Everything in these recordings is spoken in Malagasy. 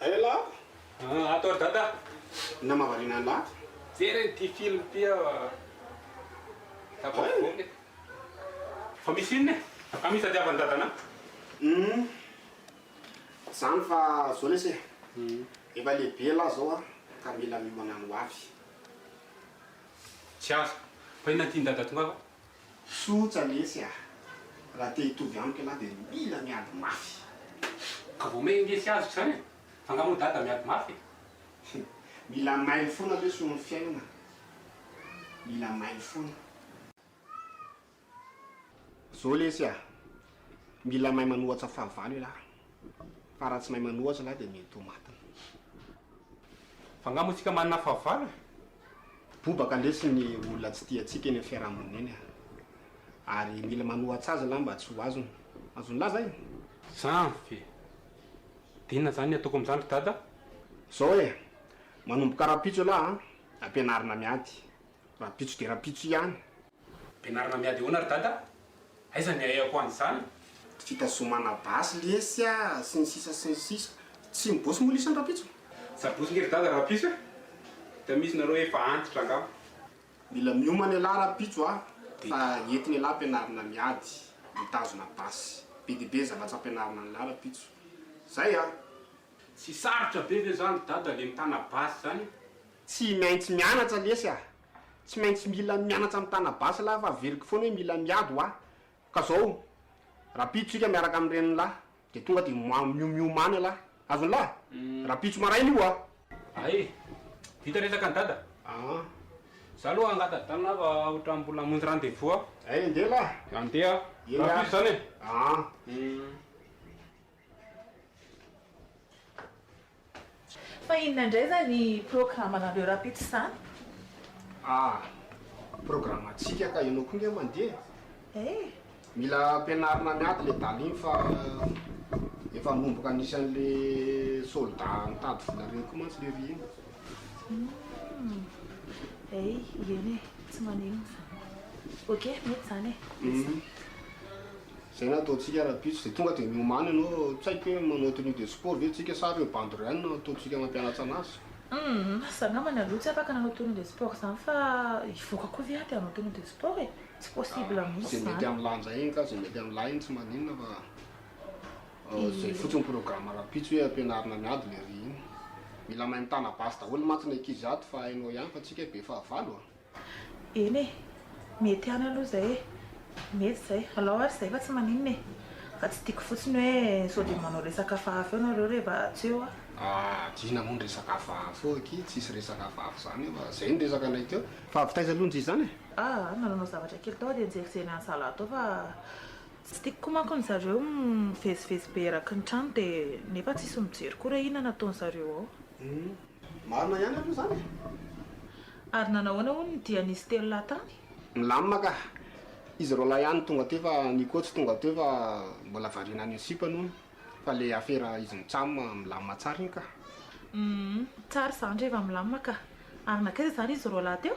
Aia la ah ato ary dada na mahavariana an la. Jereny ity film ity aho ah tafavoaka e. Fa misy inona e? Fa misy tadiavan'i dadanao? Humm zany fa zao lesy e efa lehibe la zao ah ka mila miomana ny ho avy. Tsy azo. Fa inona ty ny dada tongava? Tsotra lesy ah! Raha te hitovy amiko ianao dia mila miady mafy! Ka vao may indesy azy ko zany e! Fa nga moa dada miady mafy e! Mila mailo foana lesy hono ny fiainana! Mila mailo foana! Zao lesy ah! Mila mahay manohatsa fahavalo elah! Fa raha tsy mahay manoa zalahy dia mety ho matina. Fa nga moa tsika manana fahavalo e? Bobaka ndresy ny olona tsy tia antsika eny amin'ny fiarahamonina eny a! Ary mila manoa atsy azy zalahy mba tsy ho azony. Azo nilaza e! Zany ve? Dia inona zany ny ataoko amin'izany ry dada? Zao e! Manomboka rahampitso ialahy a! Ampianarina miady. Rahampitso dia rahampitso ihany. Ampianarina miady ahoana ry dada? Aiza ny ahiako any zany? Fitazomana basy lesy a! sy ny sisa sy ny sisa. Tsy mibotsy moa lisany rampitso? Sabotsy nge ry dada rampitso e! Hita mihitsy nareo efa antitra angamba. Mila miomana elah rampitso a! fa entina elah ampianarina miady, mitazona basy. Be dia be zavatra ampianarina an'lah rampitso. Zay a! Tsy sarotra be ve zany ry dada le mitana basy zany? Tsy maintsy mianatra lesy a! Tsy maintsy mila mianatra mitana basy lahy fa averiko foana hoe mila miady hoa. Ka zao, rapitso tsika miaraka amin'ny renin'ny lahy, dia tonga dia moa miomiomany lahy. Azony lahy? Rapitso maraina io hoa. A eh! Vita resaka ny dada? Aa. Za aloha angatadana fa otran mbola hamonjy rendez-vous aho. Hay andeha lahy. Andeha. Rapitso zany e. Aa. Hum. Fa inona indray izany programanareo rahampitso izany? Ah! Programantsika ka ianao koa nge mandeha e! Eh! Mila ampianarina miady le daly iny fa efa manomboka anisan'le solda mitady vola ireny koa mantsy le ry iny. Humm! Eh! Ieny e! Tsy maninona izany. Ok, mety izany e! Mety izany. Zay no ataontsika rahampitso de tonga de miomany ianao tsy haiko hoe manao tenue de sport ve tsika sa reo bandy reo ihany no ataontsika mampianatra anazy. Humm za namany aloha tsy afaka nanao tenue de sport zany fa hivoaka koa ve aho de hanao tenue de sport e? Tsy possible mihitsy zany. Ze mety am'lah njay iny ka ze mety am'lah iny tsy maninona fa zay fotsiny programme rahampitso hoe ampianarina miady le ry iny. Mila mahay mitana basy daholo mantsy ny ankizy ato fa hainao ihany fa tsika be fahavalo a! Eny e, mety ihany aloha izay e, mety izay, alao ary izay fa tsy maninona e, fa tsy tiako fotsiny hoe sao dia manao resaka hafahafa eo nareo reva tsy eo aho. Adino moa ny resaka hafahafa eo akia, tsisy resaka hafahafa izany eo a, zay ny resaka anay teo, fa avy taiza aloha njy izany e? Aa nananao zavatra kely tao aho dia nijerijery an'zalahy tao fa tsy tiako koa manko ny zareo mivezivezy be eraky ny trano dia nefa tsisy mijery koa re inona nataony zareo ao. Hum. Marina ihany aloha izany e! Ary nanahoana hono ny dia nisy telo lahy tany? Milamina ka! Izy roalahy ihany tonga teo fa Nico tsy tonga teo fa mbola variana an'io sipany hono fa le afera izy mitsam milamina tsara iny ka! Humm tsara izany reheva milamina ka! Ary nankaiza izany izy roalahy teo?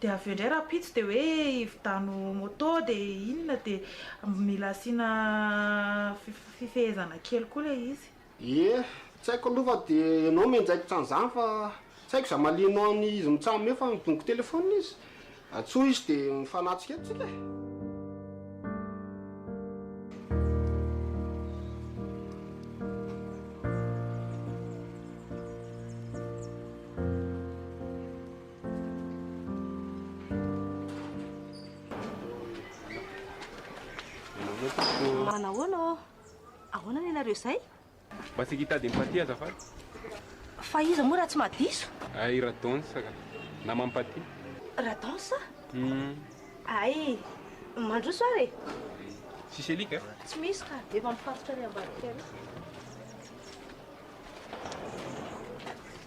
Dia avy eo indray rahampitso dia hoe hividiano moto dia inona dia mila asiana fifehezana kely koa ilay izy. Ie, tsy haiko aloha fa dia ianao mianjaikitra an'izany fa tsy haiko izay mahalianao an'i izy mitsam eo fa midongy telephone izy. Antsoy izy dia mifanatrika eto tsika e! Manahoana ô? Ahoana ny anareo izay? Mba saika hitady empathie azafady. Fa iza moa raha tsy maha diso? Ay Radonsa ka, nama ampaty. Radonsa? Hum. Ay, mandroso ary e. Tsisy alika e? Tsy misy ka, efa mifatotra any ambadika any.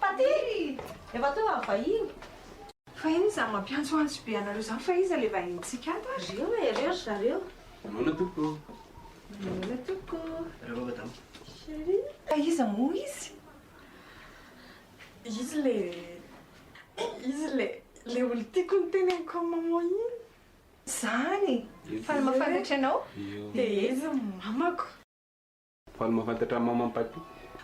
Taty ry! Efa teo aho vahiny. Fa inona izany mampiantsoantso be anareo izany fa iza ilay vahinintsika ato ary? Reo e, reo ry zareo. Mamoana tompoko. Mamoana tompoko. Reo madama. Chérie. Ka iza moa izy? Izy le, izy le, le olon-tiako noteneniko an'i maman iny. Izany! Fa ny maha fantatra anao? Dia izy ny mamako. Fa ny mahafantatra an'i Maman Paty.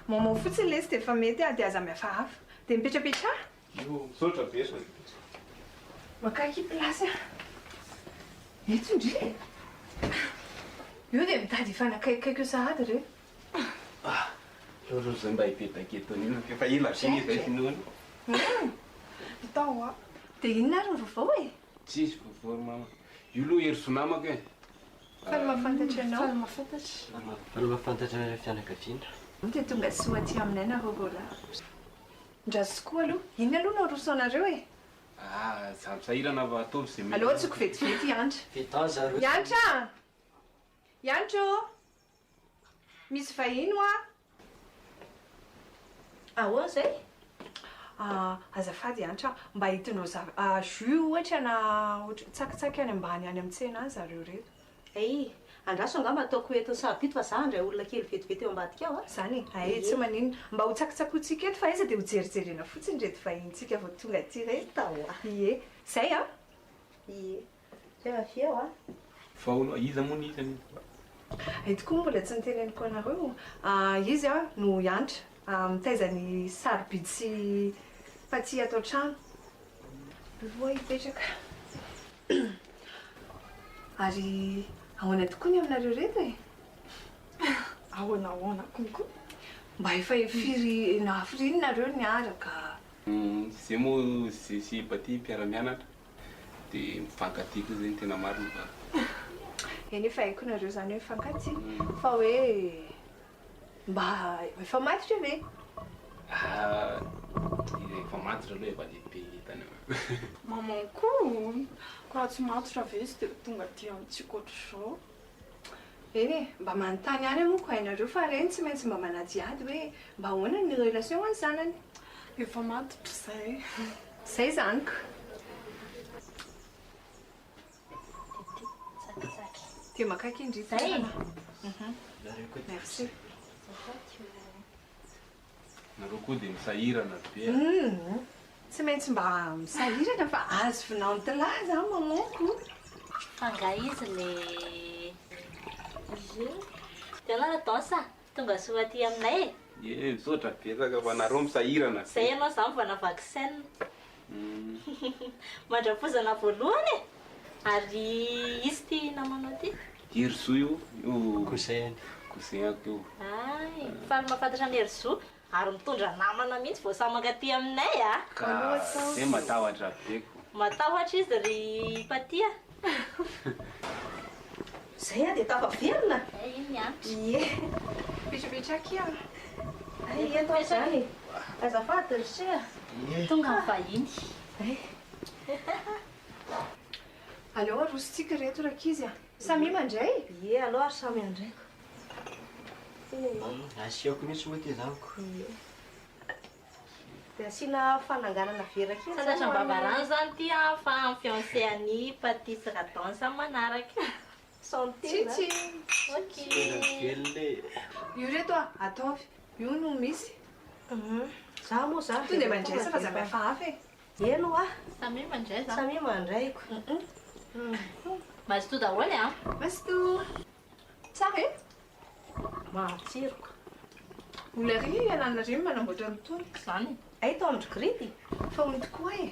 Maman fotsiny lesy dia efa mety a, dia aza mihafahafa. Dia mipetrapetraha. Io, misaotra betsaka. Makaiky place a. Eto ndry e. Io dia mitady hifanakaikikaiky eo sahady re. Ah, aleo aloha zay mba hipetaka eto anilako e, efa ela be izay finoana. Hum, hita hoa. Dia inona ary ny vaovao e? Tsisy vaovao ry Maman. Io aloha hery zonamako e. Fa ny mahafantatra anao. Fa ny mahafantatra. Fa ny mahafantatra ireo fianakaviana. Dia tonga soa aty aminay nareo roalahy. Ndra zoky koa aloha. Inona aloha no aroso anareo e? Ah, za misahirana fa ataovy ze mety. Aleo atsoko vetivety i Hanitra. Fito ans zareo. Hanitra a! Hanitra ô! Misy vahiny hoa. Ahoana izay? Ah, azafady Hantra, mba hitondrao zava, ah, jus ohatra na ohatry, tsakitsaky any ambany any amin'ny tsena any zareo ireto. Hey, andraso angamba ataoko eto sahaby ito fa za handray olona kely vetivety eo ambadika ao a. Zany e? Hay e, tsy maninona. Mba ho tsakitsakointsika eto fa aiza dia ho jerijerena fotsiny ireto vahinintsika vao tonga aty ireto. Hita hoa. Ie. Izay an! Ie. Zay va f'eo a. Fa hono iza moa nihitra an'io? Hay tokoa moa mbola tsy noteneniko anareo. Izy a no hiantra, mitaiza ny sarobidy sy fatihy ato an-trano. Mivoha hipetraka. Ary ahoana tokoa ny aminareo reto e? Ahoana ahoana konko? Mba efa firy na firy iny nareo niaraka? Zay moa Zesy Baty mpiara-mianatra. dia mifankatia koa zay ny tena marina fa Eny efa haiko nareo zany hoe mifankatia fa hoe mba efa matotra ve? Ah, ilay efa matotra aloha efa lehibe ny entana an. Maman-ko, ko raha tsy matotra ve tsy dia ho tonga aty amintsika ohatr'izao? Eny e, mba manontany ihany aho moa ko hainareo fa reny tsy maintsy mba manadihady hoe mba ahoana ny relation ho an'ny zanany. Efa matotra izay. Izay izany ko. Dia maka akin-dry toerana. Merci. Nareo koa dia misahirana ry be a! Tsy maintsy mba misahirana fa azy vinantilahy za mamanko. Fa nga izy le Izy io? De anao la danse a! Tonga soa aty aminay e! Ye misaotra betsaka fa nareo misahirana be. Zay ianao za mivoana vaky scène. Mandram-pozana voalohany e! Ary izy ty namanao ty? Herizo io, io cousin-ko io. Hay, faly mahafantatra an'i Herizo, ary mitondra namana mihitsy vao samy mankaty aminay a! Ka dia matahotra be ko! Matahotra izy ry Paty a! Zay aho dia tafaverina? Hay iny niantra. Ie. Vitsivitsy aky aho. Hay eto aho izany e. Azafady ry se a. Ie. Tonga ny vahiny. Hay. Aleo arosontsika ireto rankizy a. Samia mandray? Ie aleo ary samy handraiko. Asiako mihitsy moa ity zanako. Ie. Dia asiana fananganana vera kely zany ho an'ny. Sasandrababarany zany ity an fa ny fiancé an'i Patty sy Radon zany manaraka. Santé an. Tchitchi. Ok. Tena velona e. Io re toa ataovy. Io no misy. Za moa za. Tonga dia mandraisa fa za mihafa hafa e. Eny hoa. Samia mandray za. Samia mandray ko. Mazotoa daholo e an. Mazotoa. Tsara e! Mahatsiro ka! Mbola ary ianarana re manamboatra an'itony. Izany. Hay tao amin-dry Gripy fa hono tokoa e!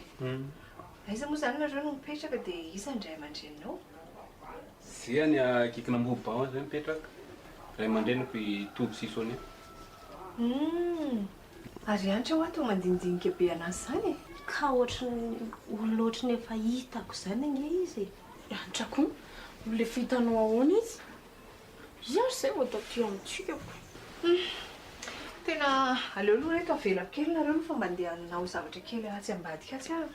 Aiza moa izany nareo no mipetraka dia iza ny ray aman-dreninao? Zia any Akikinamboho Baon izay mipetraka. Ray aman-dreniko i Toby sy i Sonia. Humm! Ary antra hoa toa mandinidinika be an'azy izany e! Ka ohatran'ny olona ohatran'ny efa hitako izany ange izy e! Antra koa, olona efa hitanao ahoana izy? Iza ary izay vao taty amintsika ko? Humm! Tena aleo aloha reto avelako kely nareo aloha fa mba ndeha hanao zavatra kely atsy ambadika atsy aho.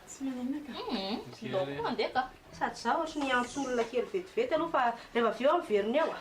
Tsy manahina ka. Humm! Ndao koa mandeha ka! Sady izaho ohatran'ny hiantso olona kely vetivety aloha fa rehefa avy eo aho miverina eo a!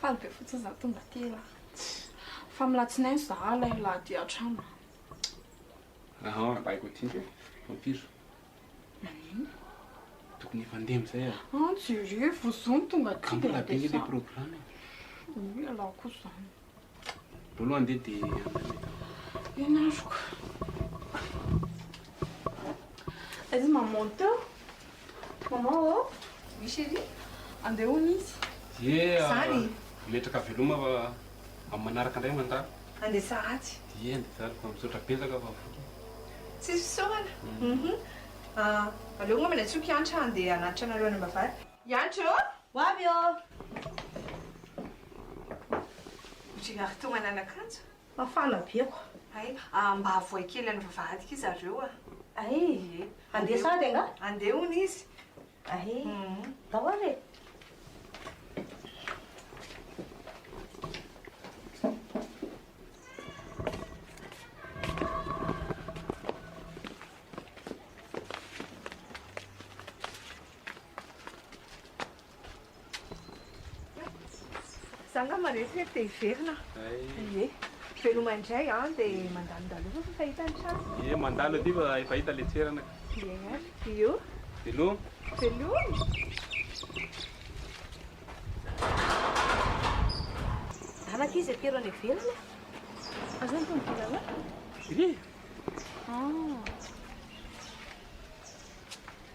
Faly be fotsiny za tonga aty e. Fa amin'ny latsinainy za ilay milahady hatrany. Aha, baiko aty ndry e, vampiro. Maninona? Tokony efa ndeha amizay ah. Ah, jereo, vao zo no tonga aty dia ndeha sa. Ka mbola be le programme e. Io ialahy koa zany. Voalohany dia dia andraikitra. Eny aroko. Aiza maman teo? Maman ô? Oh? Oui chérie. Andeha hono izy. Ye. Zany. Metraka veloma fa amin'ny manaraka indray mandalo. Andeha sahady. Ye andeha sahady fa misaotra betsaka fa voky. Tsisy fisaorana. Mhm. Aleo ngambany atsoko hiantra andeha hanatitra anareo any am-bavahady. Hiantra ô? Ho avy ô! Ohatry ny avy tonga nanakanto. Mafana be ako. Hay, mba avohay kely any vavahadika izy zareo a! Hay, Ie. Handeha sahady angaha? Handeha hono izy. Hay, ndao ary e! Za nga maresy hoe te hiverina ie veloma indray an de mandalondalo eo fa fahita ny trano ie mandalo aty fa efa hita le toerana ka ie ary io veloma veloma anaka izy aty reo any ivelany aza ny tomobilana ie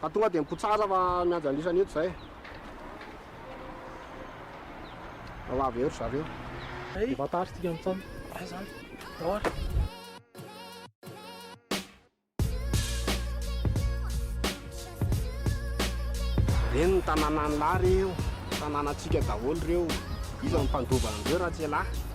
Fa tonga dia mikotsara fa miandry an'isa ny eto izay e. Ao avy eo ry zareo. Hey, Vatary tika mitsana. Ay zany. Dora. Ireny ny tanànan'i Lary io. Tanànantsika daholo ireo. Iza no mpandova an'ireo raha tsy ialahy.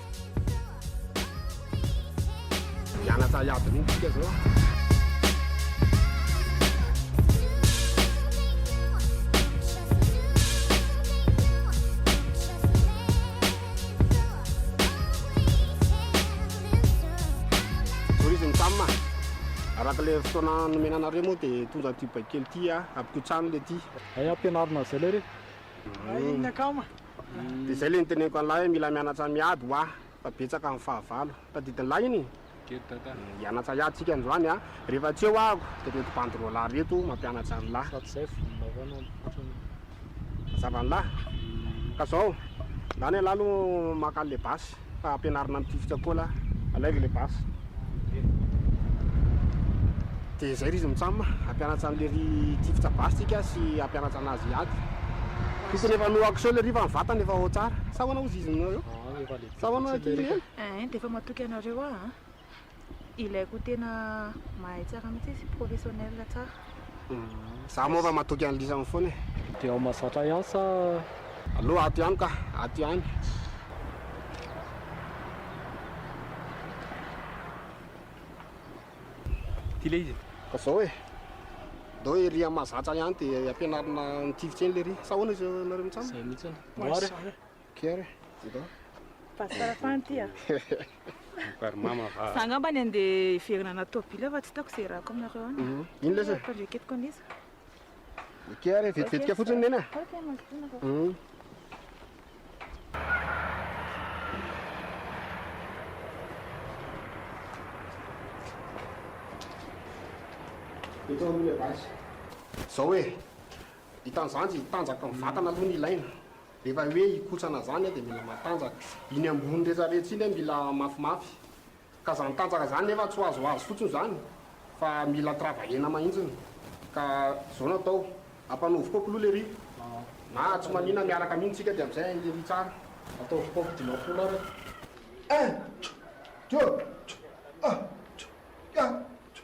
Hianatra hiady mihitsy tsika zao. Araka le fotoana nomena anareo moa dia tonga ity baikely ity a, ampikotsano le ity. Hay ampianarina an'izay lay re. Hay inona kama. Dia izay ilay niteneniko an'lah hoe mila mianatra miady hoa fa betsaka ny fahavalo. Tadidin'lah iny e! Hianatra hiady tsika androany a! Rehefa tsy eo ahako dia reto banderole reto mampianatra an'lah. Sady izay vonona koa no ampitotrony. Mazava an'lah. Ka izao, ndany an'lah aloha maka an'ilay basy. Fa ampianarina amin'ny tifitra koa lah. Alaivo ilay basy. Dia izay ry izy mitsam a. Hampianatra an'ilay ry tifitra basy tsika sy hampianatra anazy hiady. Tokony efa no action le ry fa ny vatany efa ao tsara. Sa ahoana ozy izy aminareo? Sa ahoana ity ry neny? Eehh dia efa matoky anareo ah. Ilaiko tena mahay tsara mihitsy izy, professionnel tsara. Za moa fa matoky an'i Lisany foana e. Dia ao Mahazatra ihany sa? Aleo ato ihany ka, ato ihany. Ty le izy e. Ka zao e. Ndao ery am Mahazatra ihany dia ampianarina ny tifitra eny lery. Sa ahoana izy nareo mitsam? Zay mitsy. Moara e. Care Ianao? Pasteur Fanty a. Par mama va. Za angamba ny andeha hiverina anaty tôbily fa tsy hitako ze irahako aminareo any. Mhm. Ino lesy e? Mitondra eketiko an'iza? Ike ary vetivetika fotsiny nena. Ok, mazotoa nareo. Mhm. Eto aloha le basy. Zao e, hitan'izany tanjaka ny vatana aloha no ilaina. Rehefa hoe hikotsana zany dia mila matanjaka. Iny ambony retraretra iny mila mafimafy. Ka zany tanjaka zany nefa tsy ho azoazo fotsiny zany fa mila travailler-na mahintsiny. Ka zao no atao, ampanaovy kopy aloha lery na tsy manina miaraka mino tsika dia amizay hainy lery tsara. Ataovy kopy dimampolo ary a. Un, deux, un, deux, un, deux, un, deux.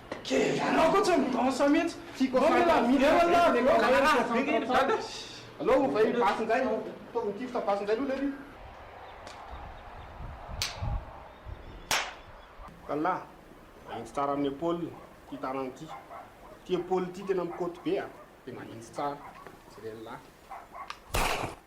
Anao tsy midansa mihitsy. Tiako afaka midansa. Alou ovay ny basy indray. Ataovy ny tifitra basy indray aloha lery. Kalla, manintsy tsara amin'ny epaoly ity tanana ity. Ity epaoly ity tena mikoty be a. Dia manintsy tsara. Jereo an'lah.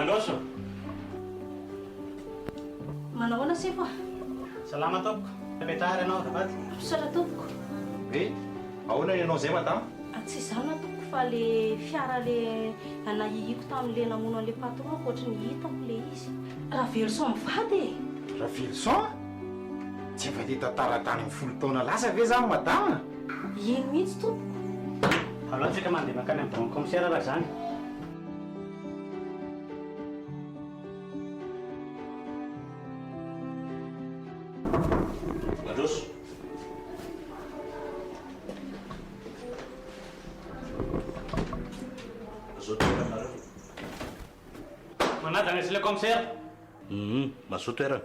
Alôso. Manao ahoana sefo a? Salama tompoko. Mipetraha ary ianao azafady. Misaotra tompoko. Hoe ahoana ny anao izay madama? A Tsy izany tompoko fa le fiara le nanahihiako tamin'le namono an'le patron-ko ohatry ny hitako le izy. Raveloson mivady e! Raveloson? Tsy efa te hitantara tany amin'ny folo taona lasa ve zany madama? Eny mihitsy tompoko. Alao antsika mandeha mankany amin'ny banc commissaire raha izany. Mandroso. Mazoto toerana nareo. Manaja ny asy le commissaire. Hum, mazoto toerana.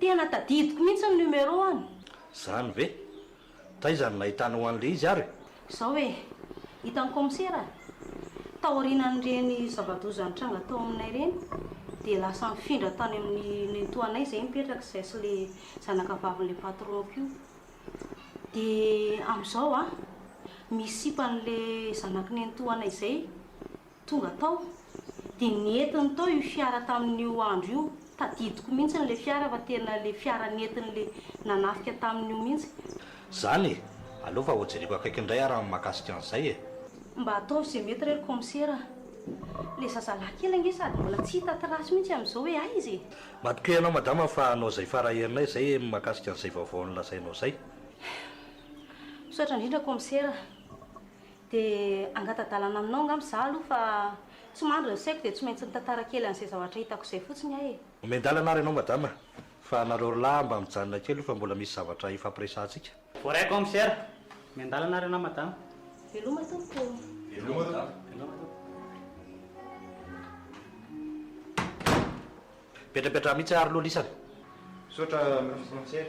Tena tadidiko mihitsy ny numéro an! Zany ve? Taiza no nahitanao an'le izy ary? Zao e! Hitan'ny kaomisera, taorianan'ireny zava-doza nitranga tao aminay ireny dia lasa nifindra tany amin'ny nenitoanay izay mipetraka izay sy le zanakavavin'le patron-ko io. Dia amin'izao an, misy sipa an'le zanaky nenitoanay izay. Tonga tao, dia nentiny tao io fiara tamin'io andro io, tadidiko mihitsy ilay fiara fa tena ilay fiara nentiny ilay nanafika tamin'io mihitsy. Zany e! Aleo fa hojereko akaiky indray ary amin'ny mahakasika an'izay e! Mba ataovy izay mety re ry kaomisera a! Ilay zazalahy kely ange sady mbola tsy hita trace mihitsy amin'izao hoe aiza e! Matokia ianao madama fa hanao izay fara herinay izay amin'ny mahakasika an'izay vaovao nolazainao izay. Misaotra indrindra kaomisera. De angata-dalana aminao angamba za aloha fa tsy mandry ny saiko de tsy maintsy mitantara kely an'izay zavatra hitako izay fotsiny aho e. Omen-dalana ary ianao madama a! Fa nareo r'lah mba mijanona kely io fa mbola misy zavatra hifampiresahantsika. Voaraiko amin'ny sera. Omen-dalana ary ianao madama. Veloma tompoko. Veloma tompoko. Petrapetraha mihitsy ary loha lisany. Misaotra Minisitry ny Frontières.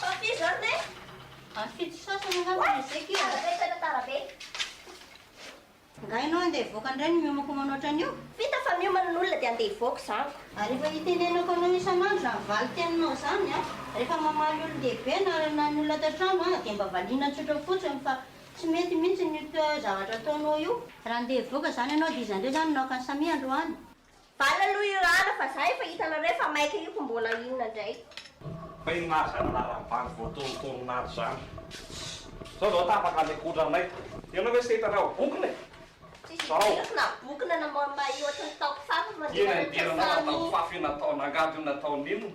Papier jaune e! Any fito sasany angamba no ezeko io. Tara be sao efa tara be. Angaha ianao handeha hivoaka indray no miomankomana ohatran'io? Vita fa miomana ny olona dia handeha hivoaka izany ko. Ary efa itenenako anao isan'andro izany valin-teninao izany an! Rehefa mamaly olon-dehibe na na ny olona ato an-trano aza dia mba valiana tsotra fotsiny fa tsy mety mihitsy io zavatra ataonao io. Raha handeha hivoaka izany ianao dia izy indray izany no naka an'i Samia androany. Bala aloha io rana fa za efa hitanareo fa maika io ko mbola inona ndray. Fa inona ary zany anaran'ny bandy voatorintorina ato zany? Zao zao tapaka any an-kotranay. Ianao ve tsy te hitanao bokona e? Tsisy vitsy na bokona na mba ohatry ny taoko fafy fa mandeha manao tsaho samy. Ianao nataoko fafy io nataon'angady io nataon'inona?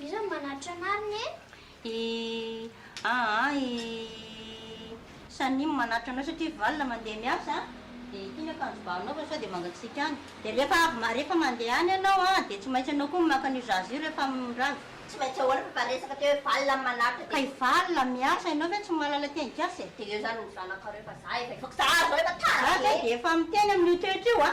Iza no manatitra anariny e? I aa i Sanim manatitra anao satria valona mandeha miasa dia ity ny akanjo ba anao fa sao dia mangatsiaka any dia rehefa avy ma rehefa mandeha any ianao a dia tsy maintsy ianao koa maka an'io zaza io rehefa mirava. Tsy maintsy ahoana fa efa resaka teo hoe valona no manatitra dia. Ka i valona miasa ianao ve tsy mahalala tia ankiasa e? Dia eo izany ny zanakareo fa za efa hivoaka za zao efa tara be. Za zao dia efa miteny amin'io toetra io a!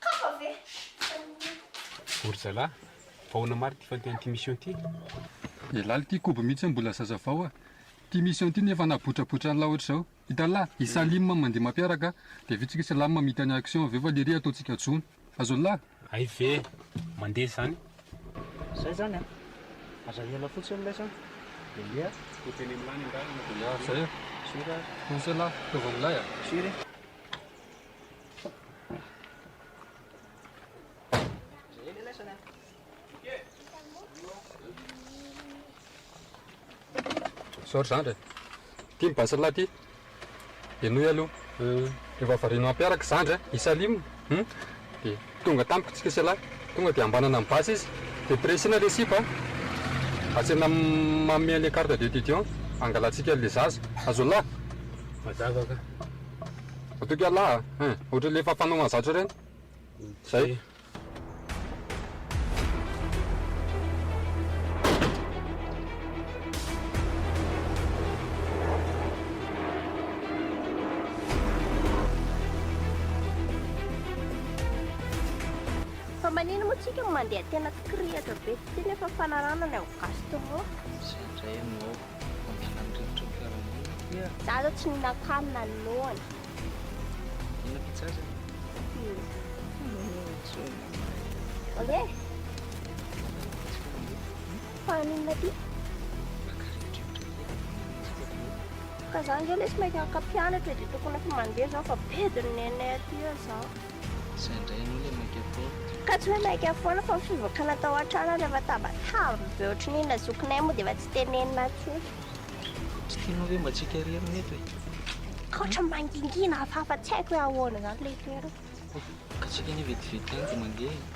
Kafa ve? Ry zalahy, fa ahoana marina ity fandehan'ity mission ity? Dia lala ity kobo mihitsy hoe mbola zazavao a! Ity mission ity nefa na botrabotra an'la ohatr'izao. Hitan'lah, i Salim mandeha mampiaraka, dia vitsy ve Salam mahita ny action avy eo fa lery ataontsika jono. Azon'lah? Hay ve! Mandeha izany. Izay izany a! Aza ela fotsiny ilay sa dia andeha a! Toa teny amin'lah ny an-dalana dia. Ya, izay a! Firy ary? Poussez-la, ataovy amin'ilay a! Firy? Zao ry zandry e. Ity ny basy-lahy ity. Henoy aloha. Rehefa variana mampiaraka zandry an, i Salim hum, dia tonga tamiko tsika sy ialahy. Tonga dia hambanana ny basy izy. Dia pressena ilay sipa an. Atsena am- manome an'ilay carte d'étudiant. Hangalantsika an'ilay zaza. Azon'lah? Mazava ka. Matoky Allah a! Hein! Ohatry le efa fanao mahazatra ireny. Zay. Fa manino moa tsika no mandeha tena tsikirihatra be, ty nefa fanarahana ny ao gasy teo moa. Zay indray no ao. Mampiala ny rivotra ny fiarahamonina. Za zao tsy mihinako hanina ny noana. Inona pizza zany? Oye? Paninona ty? Ka za nge lesy maika ka mpianatra dia tokony efa mandeha zao fa bedin'ny nenay aty eo zao. Zay ndray aloha le maika foana. Ka tsy hoe maika foana fa ny fivokana tao an-trano ary efa tabataba be ohatry ny inona zokinay moa dia efa tsy tenenina akory. Tsy tianao ve mba tsika irery no eto e? Ka ohatran'ny mangingina hafahafa tsy haiko hoe ahoana izany ilay toerana. Ka tsika anie vetivety ihany dia mandeha e.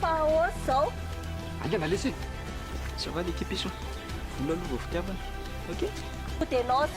Fa ahoana izao? Aingana lesy e! Ça va l'équipe Esso? Vola aloha vao fitiavana. Ok? Ho dénonce.